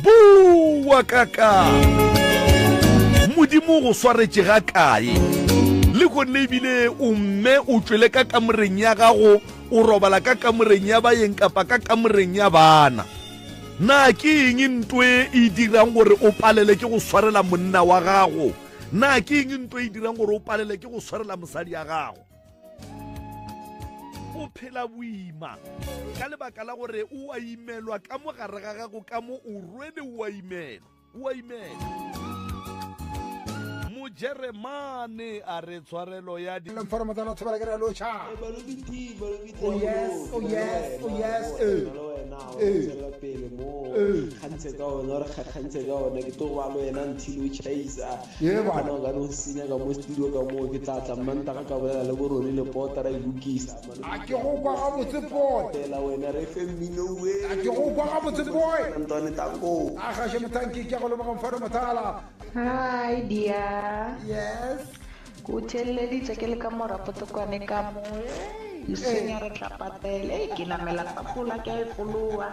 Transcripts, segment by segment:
bowa ka ka modimo go swaretše ga kae le gonne ebile o mme o tšwele ka kamoreng ya gago o robala ka kamoreng ya bayeng kapa ka kamoreng ya bana na ke eng ntoe e dirang gore o palele ke go swarela monna wa gago na ke eng nto e dirang gore o palele ke go swarela mosadi ya gago o phela boima ka lebaka la gore o a imelwa ka mo gare ga gago ka mo o rwele o a imela o a imela mojeremane a re tshwarelo ya di foromo tsa lotho ba ke re locha oh yes oh yes oh yes eh eh pele mo kgantse ka ona re kgantse ka ona ke to ba lo yena ntshilo chaisa Ye bana. Mano ka no senya ka mo studio ka mo ke tla tla mmantaga ka bolela le boroni le pota ra ilukisa mano A ke go kwa ga botse pot. Tela wena re fe mmino we. A ke go kwa ga botse boy. Ntwane tango. A gaše mothanki ke ya go leboga mfana mothala. Hi dear. Yes. Ke o theeleditše ke le ka mo rapoto kwane ka mo. Hey. Leswenya re tla patela. Hey ke namela tapole a ke a e fologa.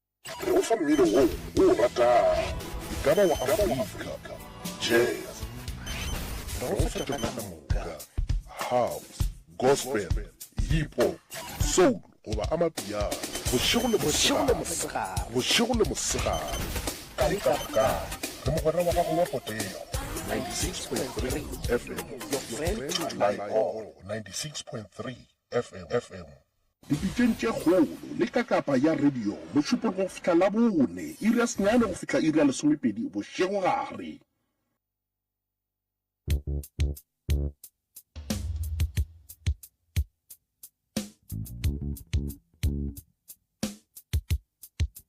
Go fa mmino wo o o ratago, e ka ba wa Afrika, jazz, rosa ka moka, house, gospel, hip hop, soul goba amapiano, bošego le mosegare, bošego le mosegare, kae kapa kae, re mogwera wa gago wa potego. 96.3 FM, your friend, my all, 96.3 FM, FM. Dipitšeng tše kgolo, le ka kapa ya radio, mošupologo go fihla Labone, iri ya senyane go fihla iri ya lesomepedi bošegogare.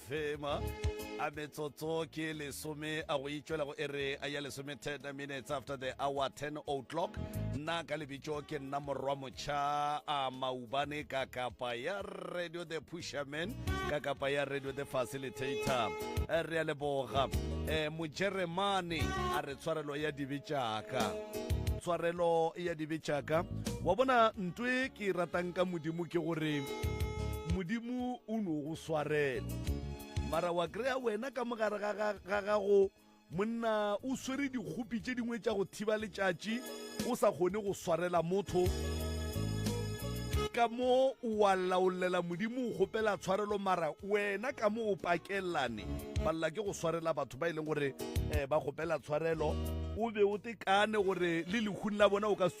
Thema a metsotso ke lesome a go itšwela go ere a ya lesome 10 minutes after the hour 10 o'clock nna ka lebitso ke nna morwa motšha a maubane ka kapa ya radio the pusherman ka kapa ya radio the facilitator Eh, re a leboga um mojeremane a re tshwarelo ya dibe tšaka tshwarelo ya dibe tšaka wa bona ntwe ke e ratang ka modimo ke gore modimo o no go Swarelo. Mara wa kry-a wena ka mogare ga, ga, ga gago monna o swere dikgopi tše dingwe tša go thiba letšatši o sa kgone go swarela motho ka mo wa laolela modimo o kgopela tshwarelo mara wena ka mo o pakelane balela ke go swarela batho ba e leng gore um ba kgopela tshwarelo o be o tekane gore le lehung la bona o ka se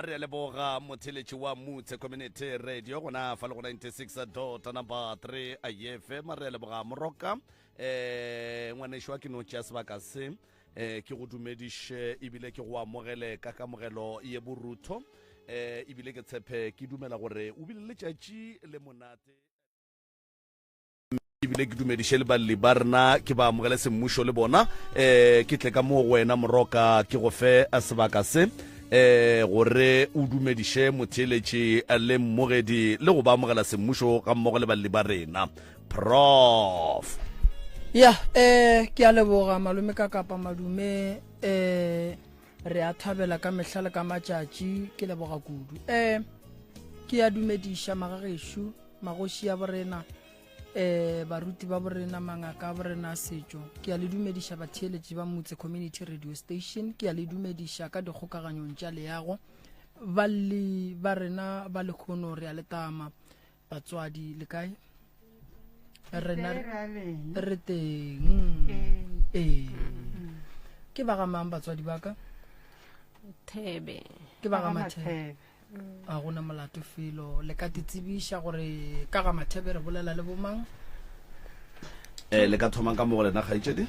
a re leboga motheletši wa mutse community radio gona fa le go 96 dota number 3 ayefe ma re leboga moroka um eh, ngwanešo wa ke no tšea sebaka se um ke go dumediše ebile ke go amogele ka kamogelo ye borutho um eh, ebile ke tshephe ke dumela gore o bile letšatši le monate ebile ke dumediše le balli ba rena ke ba amogele semmušo le bona um ke tle ka moo go wena moroka ke go fe a sebaka se um gore o dumediše motheeletši le mmogedi le go ba amogela semmušo ga mmogo le balli ba rena prof ya um ke a leboga malome ka kapa madume um re a thabela ka mehla le ka matšatši ke leboga kudu um ke ya dumediša magagešo magoši ya borena um baruti ba borena mangaka a borena a setšo ke ya le dumediša batheeletši ba motse community radio station ke ya le dumediša ka dikgokaganyong tša leago balli ba rena ba lekgono re a letama Batswadi le kae? Rena re teng. Eh. Ke ba gamang batswadi ba ka? Thebe. Ke ba ga Mathebe. A gona molato felo le ka titsebiša gore ka ga Mathebe re bolela le bomang? Eh, le ka thomang ka mo go lena kgaitšedi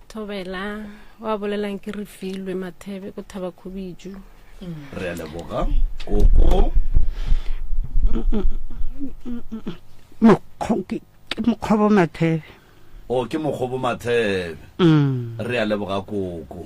thobela wa bolelang ke re filwe mathebe ko thaba khubiju re a leboga koko Mokgo- ke- ke mokgobo mathebe o ke mokgobo mathebe Mm. re a leboga koko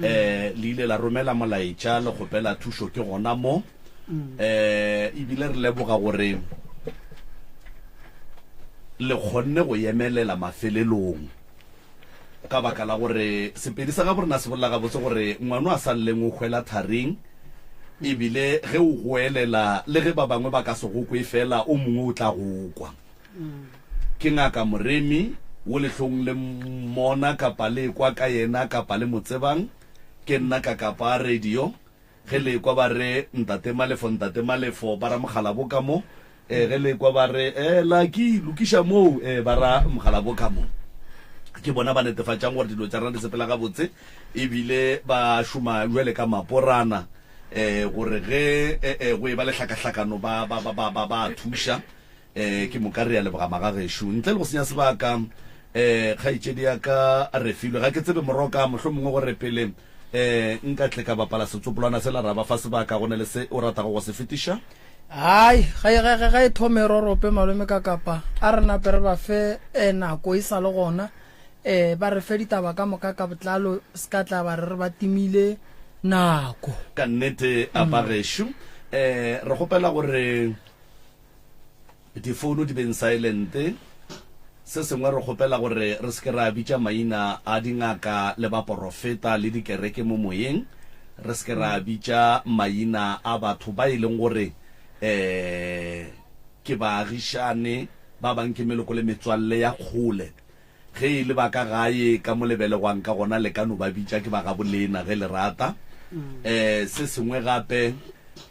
le ile la romela molaetša le kgopela thušo ke gona mo, ebile re leboga gore le kgonne go yemelela mafelelong ka baka la gore Sepedi sa gabo rena se bolela gabotse gore ngwano a sa lleng o hwela tharing, ebile ge o goelela le ge ba bangwe ba ka se go kwe fela o mongwe o tla go kwa. Ke ngaka Moremi, wo le hlong le mmona kapa le ekwa ka yena kapa le mo tsebang. Ke nna Kakapa a radio. Ge le ekwa ba re, Ntate Malefo, Ntate Malefo, ba ra Mokgalabo ka mo. Eh, ge le ekwa ba re, Eh, Lucky, lokiša moo, eh, ba ra Mokgalabo ka mo. Ke bona ba netefatšang gore dilo tša rena di sepela gabotse e bile ba šoma bjale ka maporana, eh, gore ge, eh, eh, go e ba le hlakahlakano ba, ba, ba, ba, ba, ba a thuša. Ee, ke moka re a leboga magagešo. Ntle le go senya sebaka, ee, kgaetšedi ya ka Refilwe, ga ke tsebe moroka, mohlomongwe go re pele ee, nka tle ka bapala setsopolwana sela ra ba fa sebaka, go na le se o ratago go se fetiša? Hai, ga e, ga e, ga e thome e rorope, Malome Kakapa. A re nape re ba fe ee, nako e sa le gona, ee, ba re fe ditaba ka moka ka botlalo, seka tla ba re re ba timile nako. Ka nnete, a bagešo, ee, re kgopela gore. Difounu di beng saelente. Se sengwe, re kgopela gore re se ke ra bitša maina a dingaka le baporofeta le dikereke mo moyeng, re se ke ra bitša maina a batho ba e leng gore um ke baagišane, ba bangwe ke meloko le metswalle ya kgole. Ge e le ba ka gae, ka mo le belegwang ka gona, le ka no ba bitša ke ba gaboleena ge le rata. Um se sengwe gape,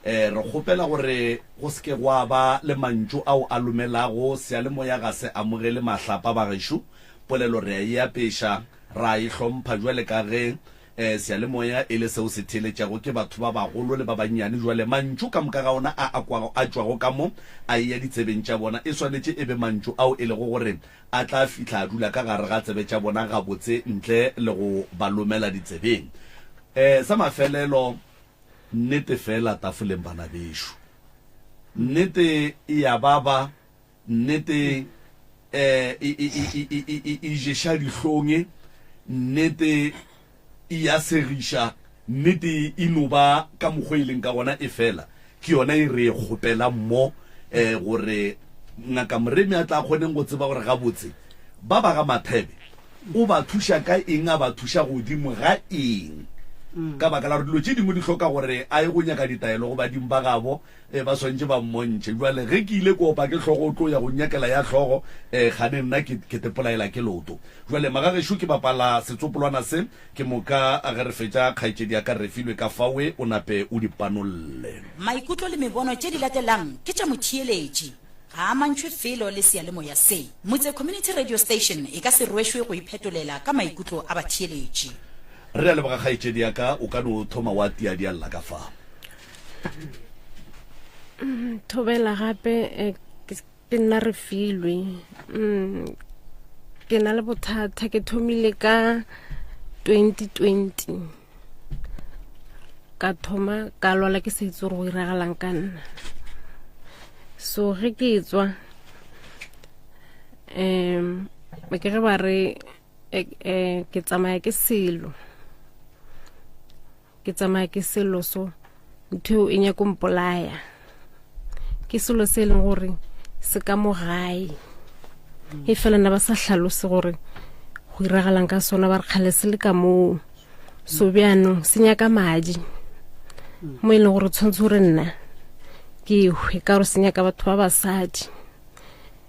um re kgopela gore go se ke gwa ba le mantšu ao a lomelago seyalemoya ga se amogele mahlapa. Bagešo, polelo re a e apeša, ra e hlompha bjale ka ge um seyalemoya e le seo se theeletšago ke batho ba bagolo le ba bannyane. Bjale mantšu ka moka ga ona a a kwago a tšwago ka mo a eya ditsebeng tša bona e swanetše e be mantšu ao e lego gore A tla fihla a dula ka gare ga tsebe tša bona gabotse ntle le go ba lomela ditsebeng. E, sa mafelelo, nnete feela tafoleng, bana bešo. Nnete e a baba, nnete e, e, e, e, e, e, e, e ješa dihlong, nnete e ya segiša, nnete e no ba ka mokgwa e leng ka gona, efela ke yona e re e kgopelang mo, um gore Ngaka Moremi a tla kgoneng go tseba gore gabotse ba ba ga Mathebe o ba thuša ka eng, a ba thuša godimo ga eng, ka baka la gore dilo tše dingwe di hloka gore a ye go nyaka ditaelo go badimo ba gabo. Ee, ba swanetše ba mmontšhe. Bjale, ge ke ile kopa ke hlogo o tlo ya go nnyakela ya hlogo, ee, kgane nna ke, ke tepolaela ke loto. Bjale, magagešo, ke bapala setsopolwana se, ke moka ge re fetša, kgaetšedi ya ka Refilwe ka fawe, o nape o di panolle. Maikutlo le mebono tše di latelang ke tša motheeletši, ga a amantšhwe felo le seyalemoya se. Motse Community Radio Station e ka se rwešwe go iphetolela ka maikutlo a batheeletši. Re a leboga, kgaetšedi ya ka. O ka no thoma wa tiadialla ka fa. thobela gape eh, ke nna re filwe mm, ke na le bothata ke thomile ka 2020 ka thoma ka lwala ke sa itse gore go iragalang ka nna so ge ke tswa um ke ge ba re eh, eh, ke tsamaya ke selo Ke tsamaya ke selo so, ntho eo e nyako mpolaya. Ke selo se e leng gore se ka mo gae. E fela na ba sa hlalose gore go iragalang ka sona ba re kgale se le ka moo. So bjanong se nyaka madi mo e leng gore tshwanetse gore nna ke hwe ka gore se nyaka batho ba basadi.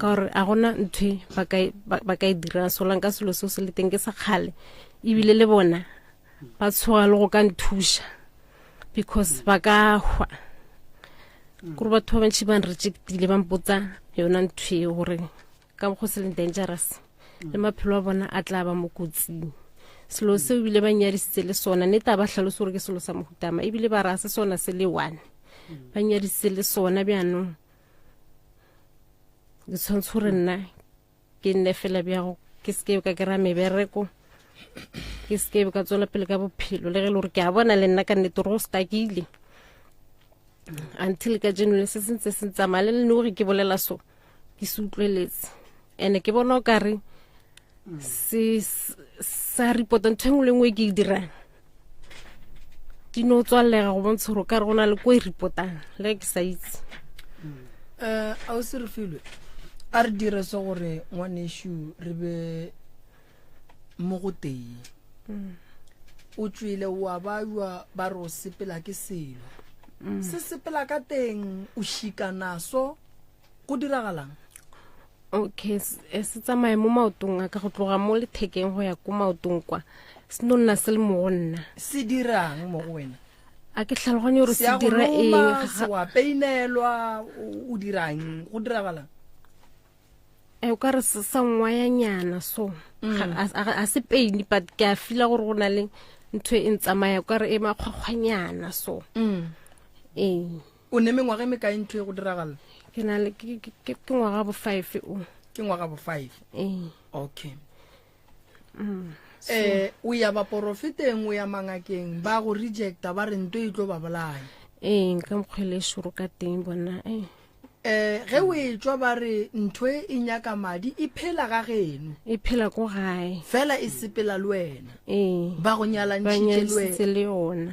ka gore a gona ntho ba ka e dira solang ka selo seo se le teng ke sa kgale ebile le bona ba tshoga le go ka nthuša because ba ka hwa kore batho ba bantšhi ba nrejectile ba mpotsa yona ntho e gore ka go se leng dangerous le maphelo a bona a tla ba mo kotsing selo seo ebile ba nyadisitse le sona ne taba tlhalose gore ke selo sa mohutama ebile ba raya se sona se le one ba nyadisitse le sona bjanong ke tshwanetse gore nna ke nne fela bjago ke seke ka kry-a mebereko ke seke ka tswela pele ka bophelo le ge e le gore ke a bona le nna ka nnete gore go stakile until ka jeno le se sentse se ntsamaya le lene gore ke bolela so ke se utlweletse and ke bona o kare sa report ntho engwe le ngwe e ke e dirang di no tswalega go bontsha gore ka re go na le ko e repotang le ke sa itse um eh, a o se re filwe a re dire se gore ngwanešu re be mo go tee mm. o tswile wa bajwa ba re o sepela ke selo mm. se sepela ka teng o šikanaso go diragalang okay eh, se tsamaye mo maotong a ka go tloga mo lethekeng go ya ko maotong kwa se no nna se le mo go nna se dirang mo go wena a ke tlhaloganye gore se dira engwa peinelwa o dirang go diragalang e eh, o ka re se sa nngwa ya nyana so mm. a se peine but ke a fila gore go na le ntho e ntsamaya o ka re e makgwakgwanyana so mm. ee O ne mengwaga e mekae ntho e go diragala? ke na le ke- ke- ke- ke ngwaga bo five o Ke ngwaga bo five. ee Okay. um o ya baporofeteng o ya mangakeng ba go rejecta ba re nto e tlo ba bolaya ee ka mokgwele e šoro ka teng bona ee um ge o e tswa ba re ntho e e nyaka madi e phela ga geno e phela ko gae fela e sepela le wena ee ba go ba nyalantšhitše le wena nyadisitse le yona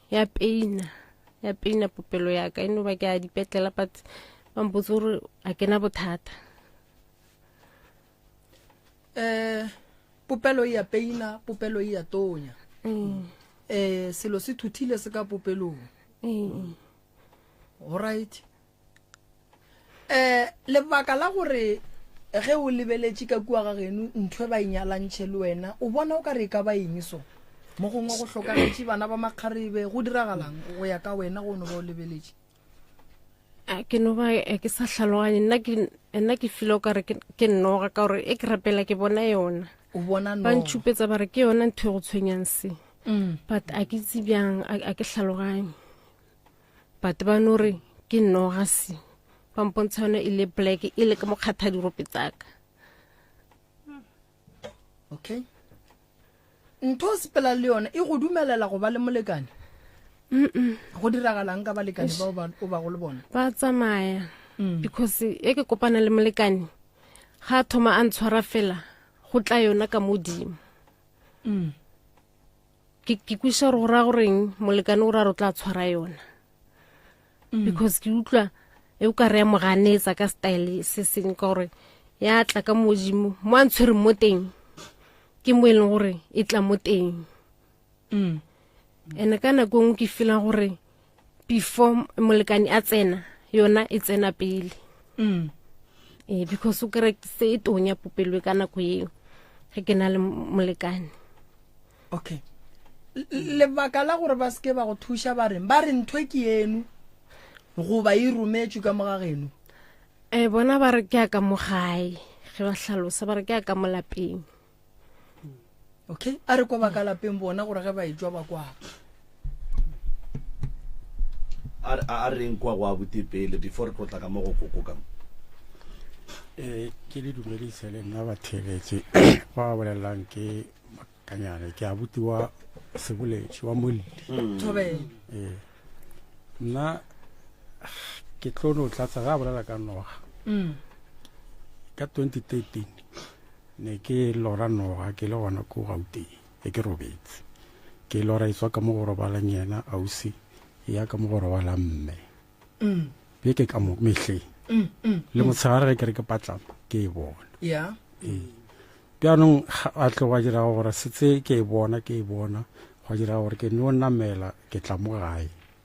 ya peina ya peina popelo yaka e no ba ke a dipetlela but ba mpotse gore a kena bothata um popelo e ya peina popelo e ya tonya um selo se thuthile se ka popelong go right um lebaka la gore ge o lebeletše ka kua ga geno ntho e ba inyalantšhe le wena o bona o ka re e ka ba eng so mo gongwe go hlokagetše bana ba makgarebe go diragalang go ya ka wena go no ba o lebeletše a ke no ba eh, ke sa tlhaloganye nna ke nna ke file o ka re ke nnoga ka gore e ke rapela ke bona yona o bona ba ntšhupetsa ba re ke yona ntho e go tshwenyang se mm. but a ke itse bjang a ke tlhaloganye but ba no re ke nogasi ba mpontsha yone e le black e le ke mokgatha dirope tsaka okay ntho o sepela le yone e go dumelela go ba le molekane go diragalang ka balekane bao o ba go le bona ba tsamaya mm. because e ke kopana le molekane ga thoma a ntshwara fela go tla yona ka modimo mm. ke ke kwiša gore go raya goreng molekane o ra re o tla tshwara yona mm. because ke utlwa e o ka re ya mo ganetsa ka style se seng ka gore ya tla ka modimo mo a ntshwere mo teng ke mo e leng gore e tla mo teng mm. and-e ka nako e ngwe ke feelang gore before molekane a tsena yona e tsena pele mm. eh, because o kere se e tonya popelwe ka nako eo ge ke na le molekane okay lebaka la gore ba seke ba go thuša ba reng ba re ntho e ke eno goba e rometswe ka moga geno um bona ba re ke ya ka mogae ge ba hlalosa ba re ke ya ka molapeng okay a re kwa ba ka lapeng bona gore ge ba e jwa ba kwa a reng kwa go a bute pele before re tlotla ka mo go koko ka mo um ke le dumedise le nna batheletše ba ba bolelelang ke makanyane ke a buti wa seboletši wa molli hmm. ee nna ke tlo no tlatsa ga a bolela ka noga hmm. ka 2013 Ne ke lora noga ke le gona ko Gauteng be ke robetse. Ke lora e tswa ka mo go robalang yena ausi e ya ka mo go robalang mme. Be ke ka mo mehleng le motshegare ge ke re ke patlama ke e bona. Yeah. Ee. Bjanong a tle wa dira gore setse ke e bona ke e bona gwa dira gore ke no namela ke tla mo gae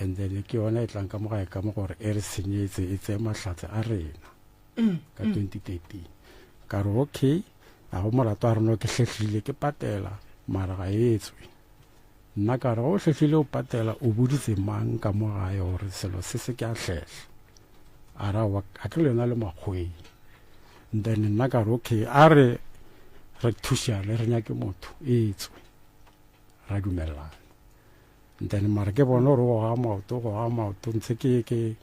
And then ke yona e tlang ka mo gae ka mo gore e re senyetse e tseye mahlatse a rena mm, ka 2013 mm. ka re okay a go molato a reno ke hlehlile ke patela mara ga e tswe nna ka re go hlehlile o patela o boditse mang ka mo gae gore selo se se ke a hlehla a ra a tlo lena le makgweng then nna ka re okay a re re thušane re nyake motho e tswe ra dumelelana then mara ke bone gore goga maoto goga maoto ntse ke ke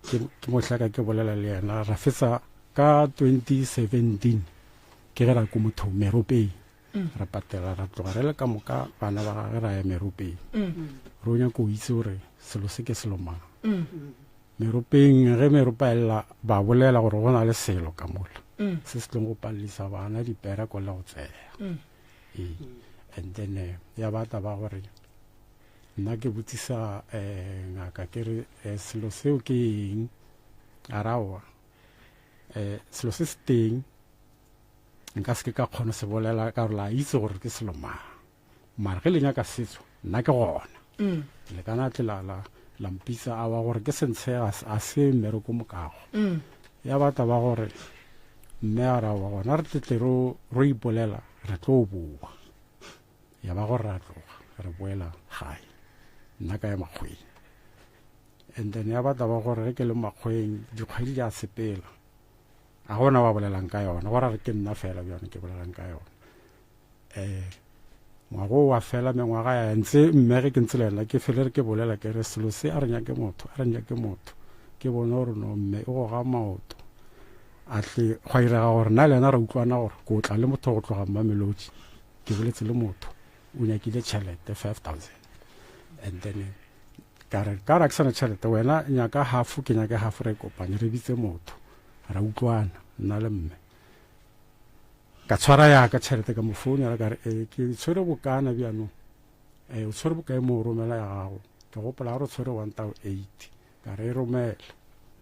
ke mohlaka ke bolela le yena ra fetsa ka 2017 ke ge ra ko motho meropeng mm. ra patela ra tloga re le ka moka bana ba gage ra ya meropeng mm. ro nyako o itse gore selo se ke selo mang mm. meropeng ge meropa elela ba bolela gore go na le selo ka mola se se tlong go palelisa bana dipera ko le go tseya ee and then eh, ya batla ba gore nna ke botsisa um ngaka ke re eh, selo seo ke eng a raoa um selo se se teng nka se ke ka kgona se bolela ka gore la itse gore ke selo mang mara ge le nyaka setso nna ke gona mm. le kana tle la la la mpitsa a wa gore ke sentshe a se mmere ko mokago mm. ya batla ba gore mme a ra wa gona re tletle ro ro ipolela re tlo boa ya ba gore ra tloga re boela gae nna ka ya makgweng and then ya batla ba gore re ke le makgweng dikgwedi di a sepela a gona wa bolelang ka yona gore re ke nna fela bjone ke bolelang ka yona eh ngwago wa fela mengwaga ya ntse mme ge ke ntse le yena ke fele re ke bolela ke re selo se a re nyake motho a re nyake motho ke bone gore no mme e go ga maoto a tle gwa irega gore na le yena re utlwana gore ko tla le motho go tloga mmamelodi ke boletse le motho o nyakile tšhelete five thousand and then ka re ka ra ke sana tšhelete wena nyaka hafo ke nyake hafo re kopanye re bitse motho ra utlwana nna le mme Ka tshwara ya ka tšhelete ka mo founela ka re, e, ke tshwere bokana bjanong. E, o tshwere bokae mo o romela ya gago? Ke gopola ga re tshwere one tao eight. Ka re e romele,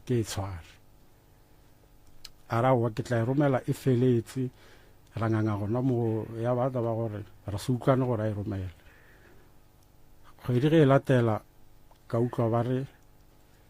ke e tshware. A ra wa ke tla e romela e feletse ra nganga gona mo ya ba taba gore ra se utlwane gore a e romele kgwedi ge e latela ka utlwa ba re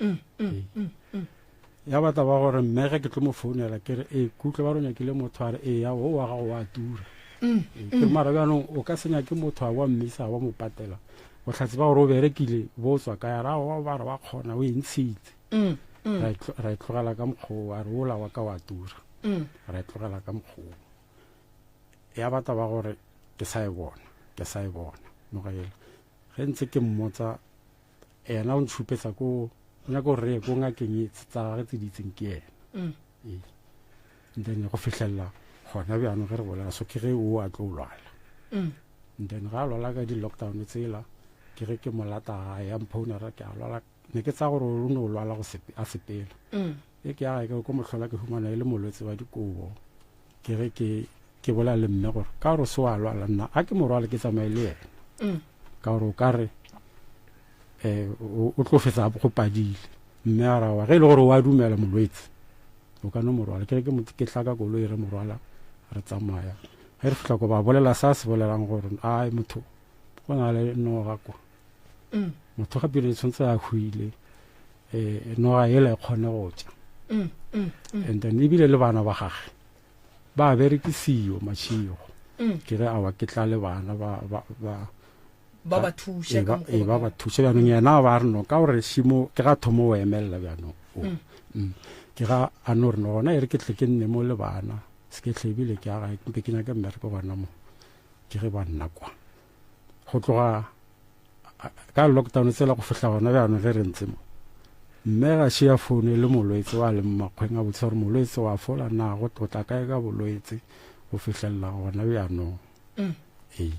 mm, mm, mm, ya batla ba gore mmege ke tlo mo founela ke re ee kutlwe ba ronya kile motho a re ee ya o wa gago wa tura ke mara bjanong o ka senya ke motho a wa mmisa wa mo patela o tlhatse ba gore o berekile bo tswa ka ya rago ba re wa kgona o e ntshitse ra e tlogela ka mokgoo a re ola wa ka wa tura ra e tlogela ka mokgoo ya batla ba gore ke sa e bona ke sa e bona mogela ge ntse ke mmotsa Yena o ntšhupetsa ko nyaka gore re ye ko ngakeng e tsa gage tse di itseng ke yena mm. ee then go fitlhelela gona bjano ge re bolela so ke ge o a tlo lwala mm. then ga a lwala ka di-lockdown tsela ke ge ke molata gae ya mphounera ke a lwala ne ke tsa gore o ne o lwala a sepela mm. Ge ke aga ke ko mohlola ke humana e le molwetse wa dikobo ke ge ke ke bolela le mme gore ka gore se wa lwala nna a ke morwale ke tsamaye le yena mm. ka gore o ka re um o tlo fetsa go padile mme a rawa ge e le gore wa dumela molwetse o ka no morwala ke ke tlaka koloi re morwala re tsamaya ge re fitlha ko ba bolela sa se bolelang gore a motho go na le noga kwa mm. motho gape ne tshwanetse a hwile um noga ele kgone go tša mm, and then ebile le bana ba gage ba berekisiyo mašego ke re awa ke tla le bana ba ba ba thushe ka mokgwa ba ba thushe ba neng yana ba re no ka gore shimo ke ga thomo o emella ba no ke ga a no re no gona e re ke tle ke nne mo le bana se ke tlebile ke aga ke ke nyaka mmereko gona mo ke ge ba nna kwa go tloga ka lockdown tsela go fihla gona bjano ge re ntse mo mme ga se ya foune le molwetse wa leng makgweng a botshware molwetse wa fola na go tlotla kae ka bolwetse go fihlelela gona bjanong mm. ee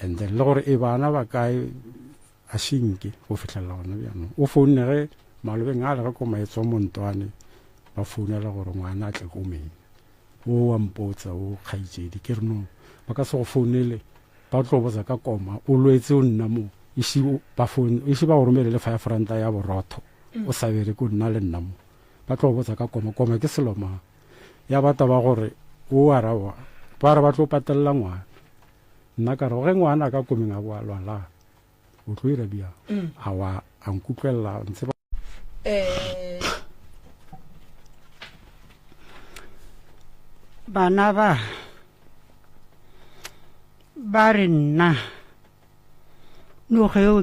and then le gore e bana ba kae a senke go fihlelela gona bjanong o founne ge malobeng a le ge ko maetso a montwane ba founela gore ngwana a tle ko meng o wa mpotsa o kgaitsedi ke re no ba ka se go founele Ba tlo botsa ka koma o lwetse o nna mo isi ba phone isi ba go romele le five ranta ya borotho o sa bere ko nna le nna mo ba tlo botsa ka koma koma ke selo mang ya ba taba gore o a ra wa ba re ba tlo patella ngwana nna ka re ge ngwana ka komeng a boa lwa la o tlo ira bia a wa a nkutlwela ntse bana ba ba re nna noga eo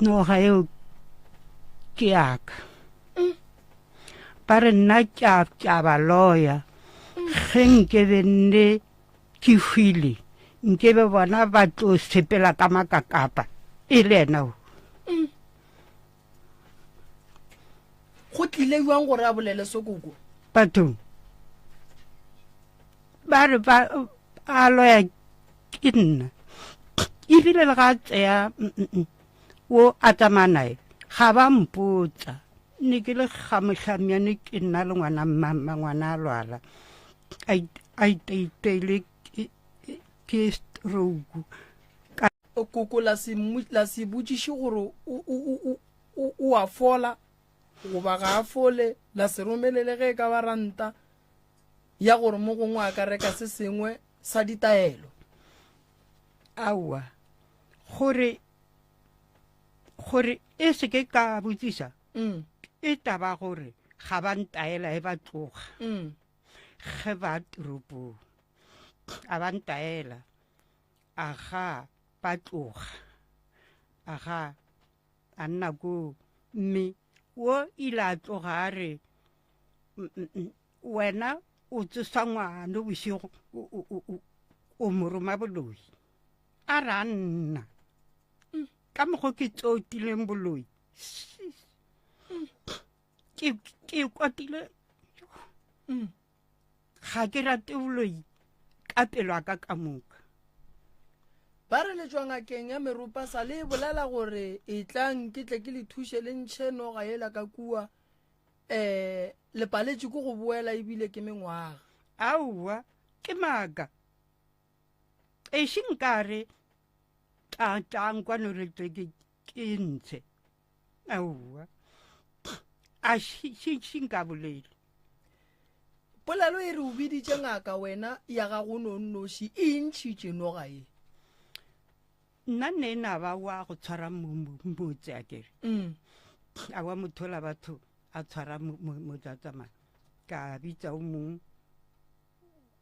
noga eo ke yaka ba re nna ke a ba loya ge nke be nne Ke hwile nke be bona ba tlo sepela ka makakapa e le ena o. Mm. Go tlile jwang gore a bolele sokoko? Batho ba re ba a loya ke nna ebile le ga a tseya o a tsamaya nae ga ba mpotsa ne ke le gamotlhamyane ke nna le ngwana mmamma ngwana a lwala a itaitaile ke stroke ka koko la se la se botšiše gore o a fola goba ga a fole la se romelele ge e ka ba ranta ya gore mo gongwe a ka reka se sengwe sa ditaelo aowa gore gore e se ke ka botšiša mm. e taba gore ga ba ntaela e ba tloga mm. Ge ba toropong, a ba ntaela, a ga ba tloga, a ga a nna koo. Mme wo ile a tloga a re, Wena o tsosa ngwano bošego, o moroma boloi. A re a nna, ka mokgwa ke tsotileng boloi. ke ke kwatile mm. ga ke rate boloi ka pelo a ka ka moka ba re letswa ngakeng ya meropa sa le bolela gore e tlang ke tle ke le thuše le ntšhe noga ela ka kua um le paletše ko go boela ebile ke mengwaga aowa ke maaka ešeng ka re tlatlang kwane re tle ke ntshe aowa a šinka bolele polelo e re o biditše ngaka wena ya ga go nonnoši e ntšhitše noga e nna nne e na ba wa go tshwara mmotse a kere mm. a wa mothola batho a tshwara motlatsamana ka bitsa o mongwe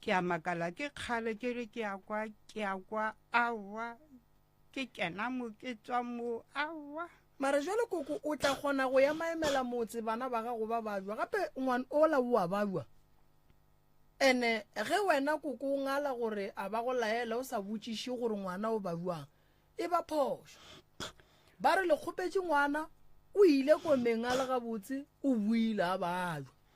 Ke a makala ke kgale ke re ke a kwa ke a kwa awa ke kena mo ke tswa mo awa. Mara jwale koko o tla kgona go ya maemela motse bana ba gago ba bajwa gape ngwan ola o a bajwa ene ge wena koko o ngala gore a ba go laela o sa botšiše gore ngwana o bajwang e ba phošo ba re le kgopetše ngwana o ile komeng a le gabotse o buile a bajwa.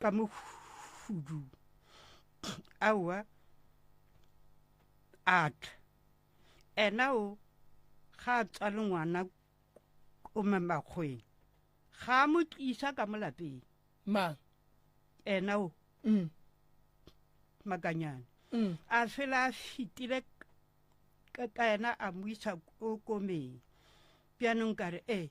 ka mo hudu aowa a tla ena o ga a tswale ngwana o mamakgweng ga a mo tlisa ka mo lapeng mang ena o mm. makanyane mm. a fela a fitile ka ena a mo isa ko komeng bjanong ka re ee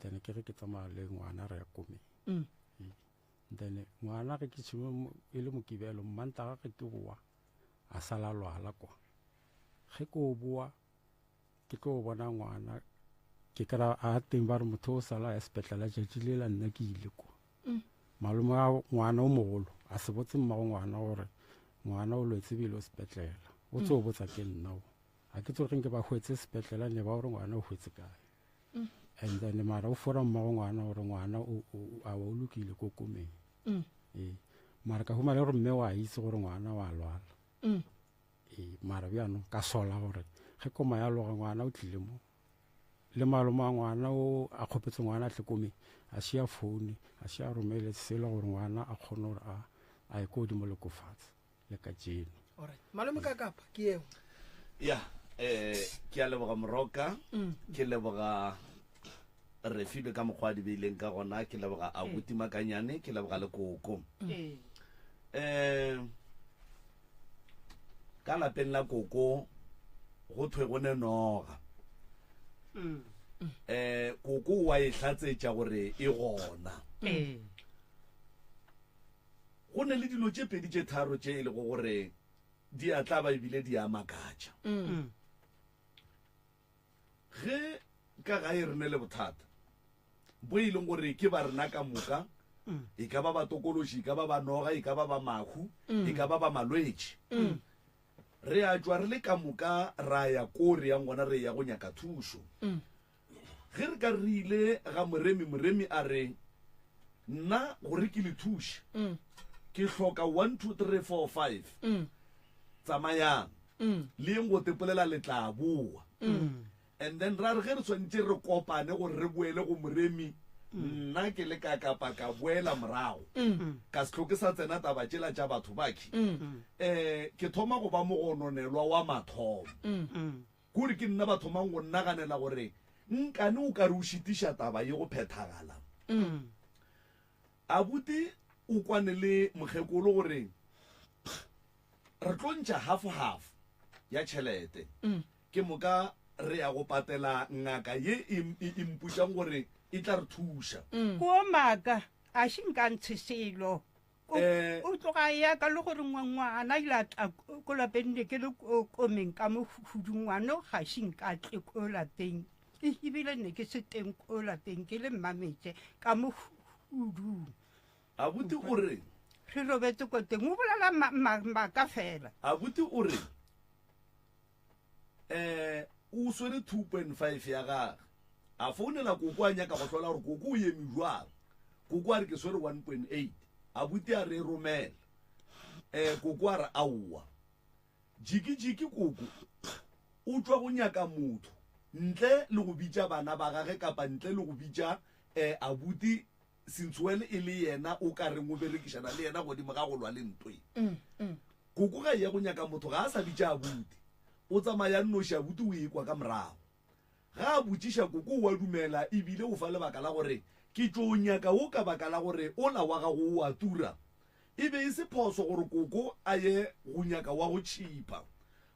then ke re ke tsamaya le ngwana re ya komeng mm. mm. then ngwana ge ke tshime e le mokibelo mmantaga ge ke boa a sala lwala kwa ge ke o boa ke tlo o bona ngwana ke kry a teng ba re motho o sala ya sepetlela jatši le la nna ke ile kwa mm. malome a ngwana o mogolo a se botse mmago ngwana gore ngwana o lwetse bile o sepetlela o tse o mm. botsa ke nna o a ke tsoge ke ba hwetse sepetlela ne ba gore ngwana o hwetse kae and then mara o fora mmago ngwana gore ngwana a wa o lokile ko komeng mm. ee mara ka humale gore mme wa itse gore ngwana wa lwala mm. ee mara bjano ka sola gore ge koma ya loga ngwana o tlile mo le maloma a ngwana o a kgopetse ngwana a tlekomeng a se ya foune a se ya romele selo gore ngwana a kgone gore a ye ko godimo le kofatse le ka jeno malome ka kapa ke yeo ya eh ke a leboga moroka mm. ke leboga re filwe ka mokgwa di beileng ka gona ke leboga a buti mm. makanyane ke leboga le koko mm. eh ka lapeng la koko go thwe go ne noga eh koko wa e tlatsetsa gore e gona Go na le dilo tše pedi tše tharo tše e lego gore di a tlaba e bile di a makatša. Ge ka gae re ne le bothata bwe e leng gore ke ba rena ka moka, e ka ba batokološi, e ka ba ba noga, e ka ba ba mahu, e ka ba ba malwetši, re a tšwa re le ka moka ra ya ko re yang gona re eya go nyaka thušo. Ge re ka re ile ga moremi, moremi a re, Nna, gore ke le thuše, ke hloka one, two, three, four, five. Tsamayang, le yeng go tepolela, le tla boa. And then ra re ge re swanetše re kopane gore re boele go moremi, nna ke le ka kapa ka boela morago, ka se tlo ke sa tsena taba tšela tša batho ba ke, um ke thoma go ba mogononelwa wa mathomo. Kuri ke nna ba thomang go nnaganela gore nkane o kare o šitiša taba ye go phethagala. Abuti o kwane le mokgekolo gore, Pff, re tlo ntša half-half ya tšhelete. Ke moka re ya go patela ngaka ye e, e, e mpotšang gore e tla re thuša. Kua maaka, a še nka ntshe selo. Eh. o tloga ya ka le gore ngwana ile a tla ko lapeng ne ke le komeng ka mo hudung ngwano ga se nka tle ko lapeng e ebile ne ke se teng ko lapeng ke le mmametse ka mo hudung a buti o reng re robetse ko teng o bolela ma- ma- maaka fela a buti o reng Ee, o swere two point five ya gage. A founela Koko a nyaka go hlola gore Koko o eme bjwang. Koko a re ke swere one point eight. Abuti a re e romele. Ee, Koko a re aowa. Jiki-jiki Koko o tšwa go nyaka motho ntle le go bitša bana ba gage kapa ntle le go bitša, ee, abuti Sintsuel e le yena o ka reng o berekišana le yena godimo ga go lwa le nto ye. Koko ga e ya go nyaka motho ga a sa bitša abuti, o tsamaya nnoši abuti o ekwa ka morago. Ga a botšiša koko o a dumela e bile o fa lebaka la gore ke tšo o nyaka wo ka baka la gore ola wa gago o a tura. E be e se phoso gore koko a ye go nyaka wa go tšhipa.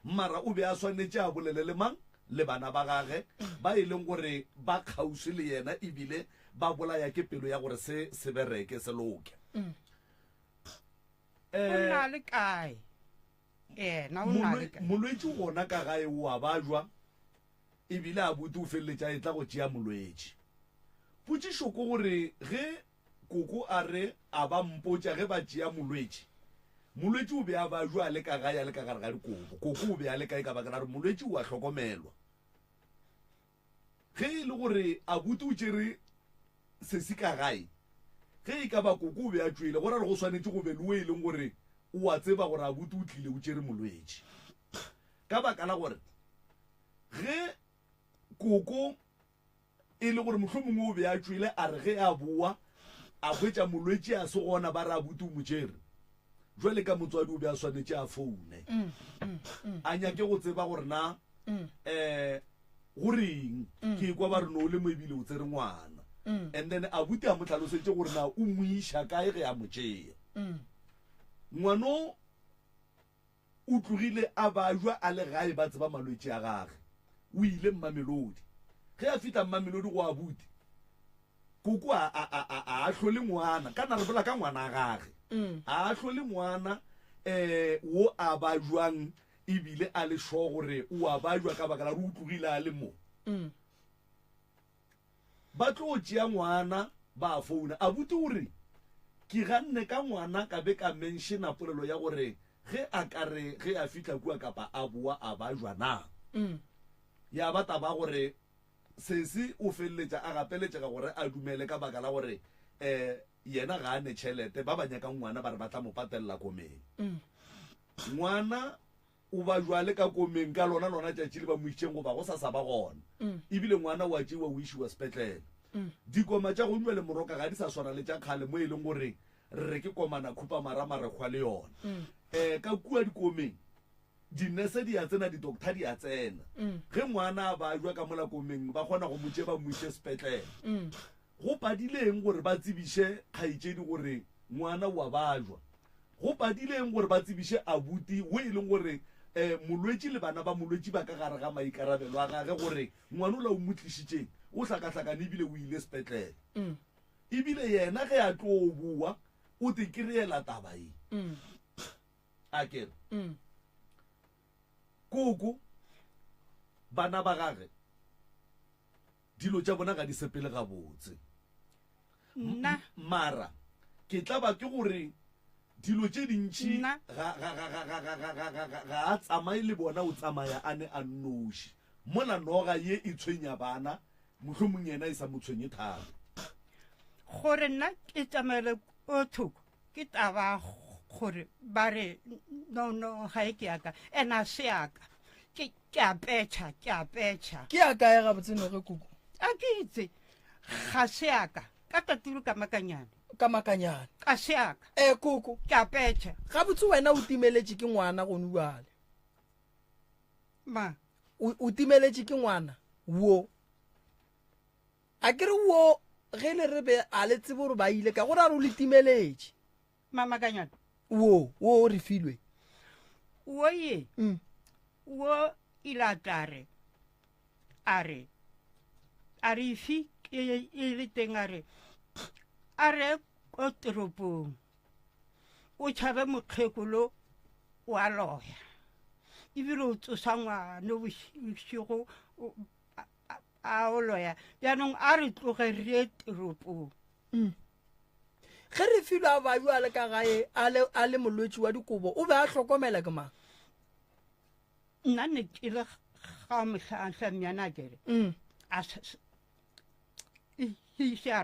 Mara o be a swanetše a bolele le mang? Le bana ba gage, ba e leng gore ba kgauswi le yena e bile ba bolaya ke pelo ya gore se se bereke, se loke. O na le kae? Yena o na le kae? Molwetši gona ka gae o a bajwa e bile a bute o feleletša a etla go tšea molwetši. Potšišo ke gore ge Koko a re a ba mpotša ge ba tšea molwetši. Molwetši o be a ba jwa a le ka gae a le ka gare ga dikobo. Koko o be a le kae ka baka la gore molwetši o a hlokomelwa. Ge e le gore Abuti o tšere sesi ka gae, ge e ka ba Koko o be a tšwele, go ra gore go swanetše go be le wo e leng gore o a tseba gore Abuti o tlile o tšere molwetši. Ka baka la gore ge Koko E le gore mohlomongwe o be a tšwele, a re ge a boa a hwetša molwetši a se gona, ba re abuti o mo tšere. Bjale ka motswadi o be a swanetše a foune, a nyake go tseba gore na um go reng. Ke ekwa ba re no o le mo ebile o tsere ngwana, and then abuti a mo tlhalosetše gore na o mo iša kae ge a mo tšea. Ngwano O tlogile a ba jwa a le gae ba tseba malwetši a gage. O ile Mmamelodi. Ge a fihla Mmamelodi go abuti, Koko a, a, a, a, a ahlole ngwana, ka na re bolela ka ngwana gage, a ahlole ngwana um wo a ba jwang e bile a le sure gore o a ba jwa ka baka la gore o tlogile a le mo. Ba tlo tšea ngwana ba founa. Abuti o re, Ke ganne ka ngwana ka be ka menšena polelo ya gore ge a ka re ge a fihla kua kapa a boa a ba jwa na. Ya ba taba gore sesi o feleletša a gapeletšega gore a dumele ka baka la gore yena ga a ne tšhelete, ba ba nyakang ngwana ba re ba tla mo patelela komeng. Ngwana O ba bjale ka komeng ka lona lona tšatši le ba mo išitšeng goba go sa sa ba gona. E bile ngwana o a tšeiwa o išiwa sepetlele. Dikoma tša gong bjale moroka ga di sa swana le tša kgale mo e leng gore re re ke komana khupamara marekgwa le yona. Um ka kua dikomeng dinese di a tsena di-doctor di a tsena. Ge ngwana a bajwa ka mola komeng ba kgona go mo tšea ba mo iše sepetlele. Go padile eng gore ba tsebiše kgaetšedi gore ngwana o a bajwa? Go padile eng gore ba tsebiše abuti wo e leng gore molwetši le bana ba molwetši ba ka gare ga maikarabelo a gage gore ngwana ola o mo tlišitšeng o hlakahlakane e bile o ile sepetlele? E bile yena ge a tlo bowa o te ke reela taba ye. A ke re, Koko, bana ba gage Dilo tša bona ga di sepele gabotse. Nna. Mara ke tla ba ke gore dilo tše dintši ga a tsamaye le bona, o tsamaya a ne a nnoši. Mola noga ye e tshwenya bana, mohlomong yena e sa mo tshwenye thata. Gore nna ke tsamaele ko thoko ke taba gore ba re no, no, ga e ke yaka, and a se yaka. Ke a petšha, ke a petšha. Ke a kae gabotse noge kuku? A ke itse, ga se a ka. Ka taturu ka makanyane. Ka makanyane. Ka se a ka. E kuku. Ke a petšha. Gabotse wena o timeletše ke ngwana gone bjale. Ma. O, o timeletše ke ngwana wo. A ke re wo ge le re be a le tsebe gore ba ile ka go ra re o le timeletše. Mamakanyana. Wo, wo o re filwe. Wo ye, mm. wo ilatare, a re, a re ifi e, e le teng a re, a re ko toropong, o tšhabe mokgekolo wa loya, ebile o tsosa ngwana bošigo a o loya bjanong a re tloge re ye teropong mm. ge re filo a bayo a le ka gae a le molwetši wa dikobo o be a hlokomela ke mang nna ne ke le ga motlhatlha myanakere mm. a se a